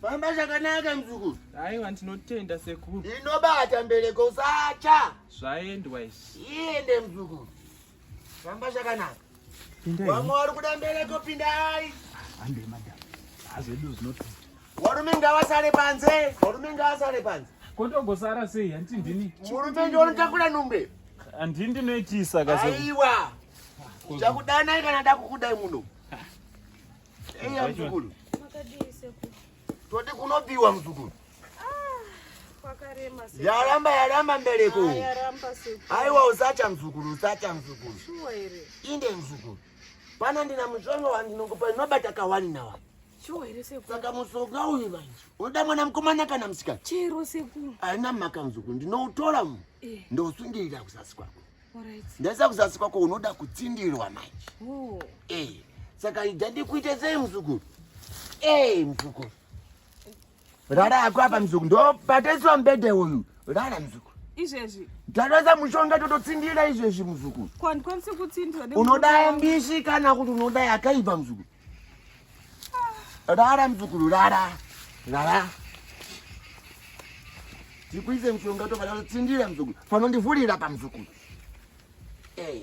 Famba zvakanaka mzukuru. Aiwa ndinotenda sekuru. Inobata mbereko usacha. Zvaendwa izvi. Iende mzukuru. Famba zvakanaka. Vamwe vari kuda mbereko pindai. Hande madam. Hazvedu zvinoti. Warume ngavasare panze. Warume ngavasare panze. Kotogosara sei hanti ndini. Murume ndiye unotakura nhumbe. Andini ndinoitisa kasekuru. Aiwa. Chakudana kana ndakukudai muno. Eya mzukuru. Makadii sekuru? Todi kunobiwa mzukuru. Kwakarema sekuru. Yaramba yaramba mbereko. Ah, yaramba sekuru. Aiwa usacha mzukuru, usacha mzukuru. Shuwa here? Inde mzukuru. Pana ndina mushonga wandinokupa inobata kawani na wani. Shuwa here sekuru? Saka mushonga uyu manje. Unoda mwana mkomana kana msikana? Chero sekuru. Haina mhaka mzukuru, ndinoutora mu. Eh. Ndosungirira kusasi kwako. ndaisa kuzasi kwako unoda kutsindirwa manje oh. eh, saka ida ndikuite sei muzukuru eh, muzukuru rara ako apa muzukuru ndobataiswa mbede uyu rara muzukuru izvezvi ndatoisa mushonga tototsindira izvezvi muzukuru unoda mbishi kana kuti unoda yakaipa muzukuru Rara mzukuru rara. Rara. Tikuise mshonga toka rara tsindira mzukuru. Fano ndivulira pa mzukuru. Eh.